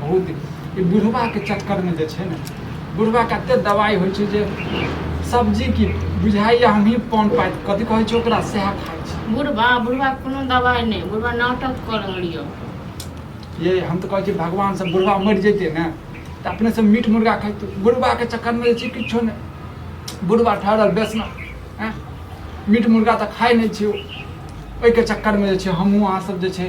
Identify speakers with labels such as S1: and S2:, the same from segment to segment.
S1: बहुत ई बुढ़बाके चक्करमे जे छै ने बुढ़बाके एतेक दवाइ होइ छै जे सब्जी की बुझाइए हमही पान पाइत कथी कहै छै ओकरा सएह खाइ छै बुढ़बा बुढ़बा कोनो दवाइ नहि
S2: बुढ़बा नाटक कऽ रहल
S1: यऽ ये हम तऽ कहै छी भगवानसँ बुढ़बा मरि जैतै ने तऽ अपनेसँ मीट मुर्गा खैतै बुढ़बाके चक्करमे जे छै किछो नहि बुढ़बा ठहरल बेसना हँ मीट मुर्गा तऽ खाइ नहि छियौ ओहिके चक्करमे जे छै हमहूँ अहाँसभ जे छै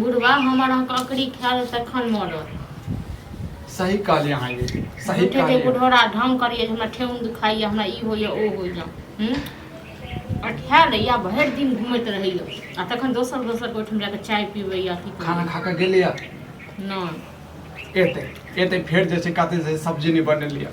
S2: बुढ़वा हमर अहाँके अकड़ी खायल तखन मरत सही
S1: कहलियै अहाँ ये सही झूठे के कहलियै बुढ़ौरा ढंग करियै जे
S2: हमरा ठेहुन दुखाइए हमरा ई होइए ओ होइए हूँ अठा लैया भरि दिन घूमैत रहैए आ तखन दोसर दोसर ओहिठाम जाके चाय पीबैए अथी खाना खा कऽ गेलियै
S1: नहि
S2: एतै एतै
S1: फेर जे छै कते से सब्जी नहि बनेलियै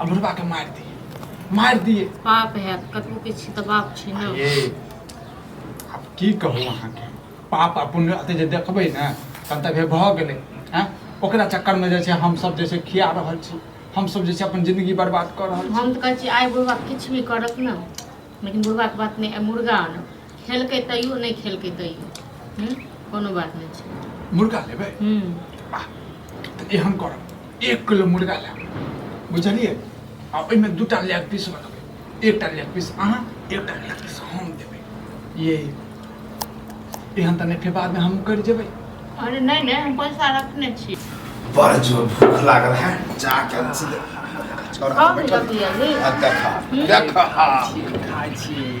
S1: अमरुआ के मार दिए मार दिए पाप है कतबो
S2: के छी तऽ बाप छी ने ये
S1: अब की कहू अहाँ के पाप आ पुण्य अते जे देखबै ने तब तक भऽ गेलै हैं ओकरा चक्कर में जे छै हम सब जे छै खिया रहल छी हम सब जे छै अपन जिंदगी बर्बाद कऽ रहल छी हम तऽ कहै छी आइ बुढ़बा
S2: किछु भी करत ने लेकिन बुढ़बाके बात नहि आइ मुर्गा आनब खेलकै तैयो नहि खेलकै तैयो हूँ कोनो बात नहि छै मुर्गा लेबै हूँ
S1: आ तऽ एहन करब एक किलो मुर्गा लेब बुझलियै आ ओहिमे दू टा लेग पीस बनबै एकटा लेग पीस अहाँ एकटा लेग पीस हम देबै ये एहन तऽ नहि फेर बादमे हम करि जेबै अरे नहि नहि हम
S2: पैसा रखने छी बड़ जोर
S3: भूख लागल है जा के हम सीधे छोड़, हम बैठल-
S2: अब
S3: देखा देखा
S1: खाइ छियै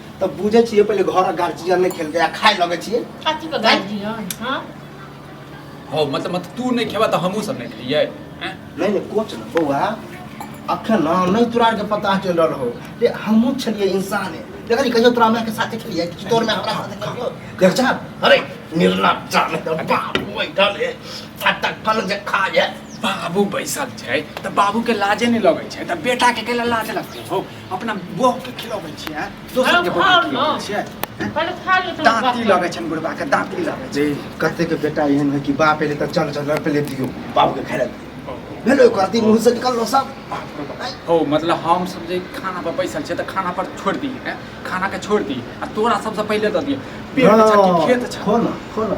S1: तऽ
S2: बुझै छियै
S3: पहिले घर गार्जियन नहि खेलके आ खाय लगै छियै काची के गाज
S2: दियो
S1: हां हो मतलब मतलब तू नहीं खेबा तो हमहू सब नहीं खइए नहीं नहीं कोच
S3: ना बौआ अखन ना नहीं तोरा के पता चल रहल हो ले हमहू छलिए इंसान है देखली कहियो तोरा हमरा के साथे खेलिए कि तोर में हमरा साथे खेलियो देख जा अरे निर्लप जा में तो बाप बैठल है फटक फल जे खा जाए बाबू बैसल
S1: छै तऽ बाबू के लाजे नहि लगै छै तऽ बेटा के केला लाज लगतै हो अपना बहू के खिलाबै छियै हैं? दोसर के बहू के खिलाबै छियै पहिले खा ले
S2: तोरा बाप दाँती लगे छन बुढ़बा
S1: के दाँती लगे जे
S3: कते के बेटा एहन है कि बाप एले त चल चल पहिले दियो बाप के खेला भेलो एक आदमी मुंह से निकल लो सब हो
S1: मतलब हम सब जे खाना पर बैसल छै तऽ खाना पर छोड़ दी हैं? खाना के छोड़ दी आ तोरा सबसे पहिले दऽ दिए पेट छऽ कि खेत छऽ खो ना खो ना